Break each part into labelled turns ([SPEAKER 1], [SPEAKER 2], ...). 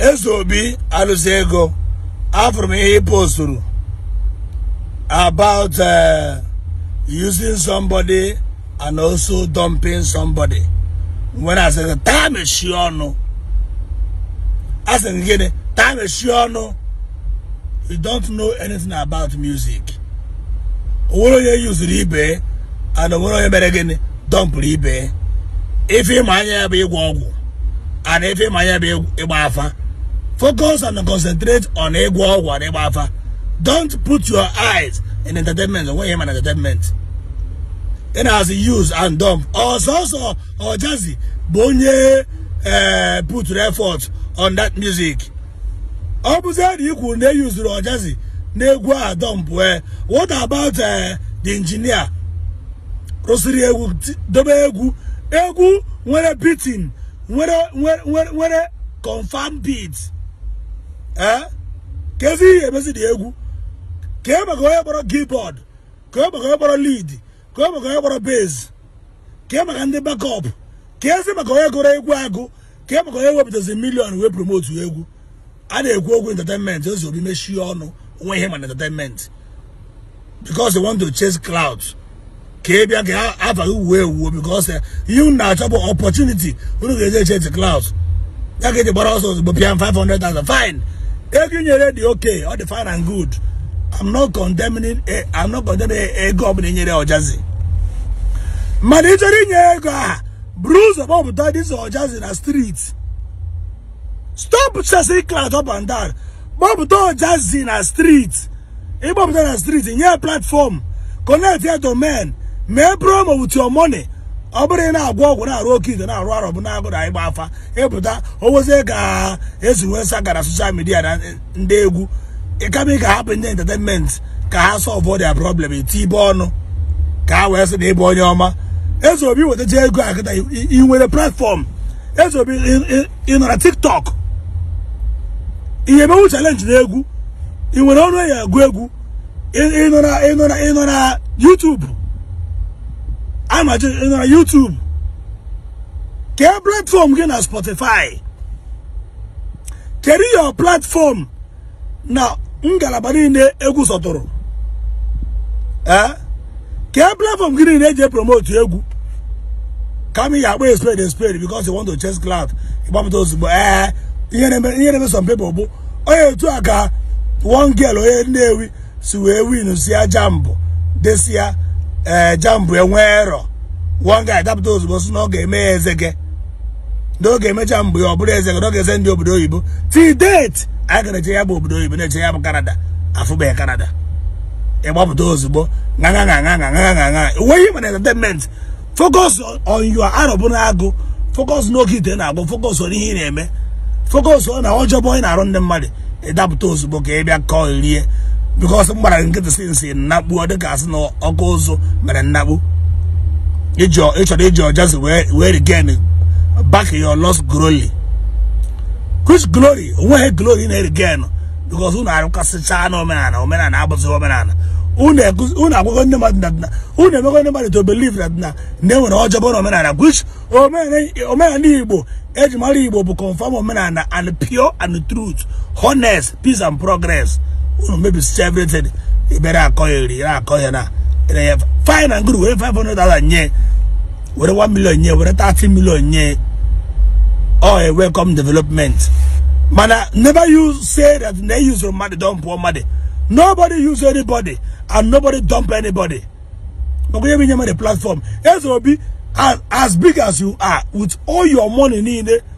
[SPEAKER 1] eze obi alụsị ego afụrụ m ihe ị posturu about uh, using somebody and also dumping somebody when I said taa mechie ọnụ a sị gị gịnị taa mechie ọnụ you don't know anything about music onwere onye yuzuru ibe and onwere onye mere gịnị dọmpụrụ ibe ife ịma anya ya bụ ịgwọ ọgwụ and ife ịma anya bụ ịgba afa focus and concentrate on ịgwọ ọgwụ and ịgba afa don't put your eyes in entertainment onweghị ihe ịma na entertainment ị na-asị use and dump ọ sọsọ ọjazi bụ onye eh, put effort on that music ọ bụzi na i kwuru na e yuzuru ọjazi n'egwu a dọmpụ e what about eh, the engineer rụsịrị egwu dobe egwu egwu nwere beating nwere confam beat ee eh? keezi ihe emezi dị egwu kee maka onye kpọrọ keyboard kee maka onye kpọrọ lead kee maka onye kpọrọ bass kee maka ndị backup keezi maka onye gụrụ egwu agụ kee maka onye wepụtazi million wee promotu egwu a na-ekwu okwu entertainment eze obi mechie ọnụ onwe ihe ịma na entertainment because they want to chase clout ka ị bịa ka afa gị wuo ewu because eh, ihe unu na-achọ bụ opportunity unu ga-eji echesi clout ya ka eji gbara ọsọ ozugbo pịa 500,000 fine ego ị nyere dị okay ọ dị fine and good I'm not condemning eh, I'm not condemning ego ọbụla ị nyere ọjazi mana ị chọrọ inye ego a buru ụzọ kpọpụta this ọjazi na street stop chasing clout up and down kpọpụta ọjazi na street ịkpọpụta na street nye platform connect ya domain mee promo with your money ọ bụrụ ị na-agwọ ọgwụ na-arụ oke ite na-arụ arọbịnagụ ịgba afa ịpụta owozie ka esi nwee sagara social media na ndị egwu kama ị ga-ahapụ ndị entertainment ka ha solve their problem i tibe ọnụ ka ha wee sị na ịbụ onye ọma eze obi i wetacha ego a kịta ị nwere platform eze obi ị nọ na tiktok ị ya-emewu challenge na egwu ị nwere ọnụ eji agụ egwu ịnọ na YouTube ana m ajụ ịnọ na YouTube kee platform gị na Spotify kedu your platform na ngalaba niile egwu sọtụrụ ee eh? kee platform gị niile eji promote egwu kama ị ga-akpọ a spade a spade because you want to chase clout ịgbapụta ozugbo ee eh, ihe na-eme some people bụ onye otu a ka one girl onye nnewi si wee win si ya jambụ this year ee eh, jambụ enwerọ one guy dapụta ozugbo si na ọ ga-eme ya eze gị na ọ ga-eme jambụ ya ọ bụrụ eze gị na ọ ga-esendi obodo oyibo till date anyị ka na-eche ya bụ obodo oyibo na-eche ya bụ kanada afụbeghị kanada ịgbapụta ozugbo ṅaṅa ṅaṅa ṅaṅa ṅaṅa ṅaṅa enweghị mana entertainment focus on your arọbụnagụ focus n'okeite ị na-agwọ focus on ihe ị na-eme focus on na ọjọbọ ị na-arụ ndị mmadụ ịdapụta ozugbo ka ị bịa kọọ rie because m gbara nkịtị since nnakpu ọ dịka asị na ọkụ ụzụ mere nnakpu ịchọrọ iji ojazzy wee regain back your lost glory which glory onweghị glory na-eregain because unu arụkasịchaa na omenala omenala abụzị omenala unu agwago ndị mmadụ na dịna unu emego ndị mmadụ to believe na dịna na enwere ọjọbọ na omenala which omenala igbo eji mara igbo bụ confirm omenala and pure and truth honest peace and progress unu mebisicha everything ibere akọ ya eri akọ ya na fine and good were 500,000 nye were 1 million nye were 30 million nye ọ a welcome development mana never you say that na e use mmadụ dump mmadụ nobody use anybody and nobody dump anybody maka onye bunye mmadụ platform eze obi as big as you are with all your money niile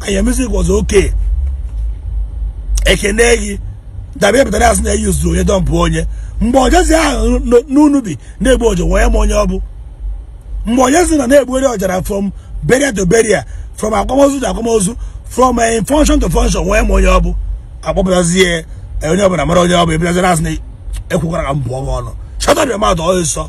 [SPEAKER 1] and your music was okay ekene gị dabịa pụtara asị na eyuzu onye dọmpụ onye mgbe ojazzy nọ n'unubi na-egbu ọja wee ma onye ọ bụ mgbe ojazzy na na-egbugharị ọja from burial to burial from akwamozu to akwamozu from eh, function to function wee ma onye ọ bụ akpọpụtazie eh, onye ọbụla mara onye ọ bụ ị bịazie na-asị na ekwukwara ka m bụọ gị ọnụ shut up your mouth ọsịsọ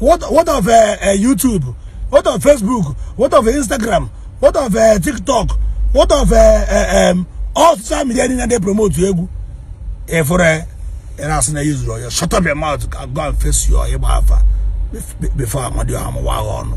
[SPEAKER 1] what what of uh, uh, YouTube what of Facebook what of Instagram what of uh, TikTok what of uh, uh, um, all social media niile dey promote egwu i vuru ire asị na yuzuru ọya shut up your mouth and go and face your ịgba afa before amadiọha amawaa gị ọnụ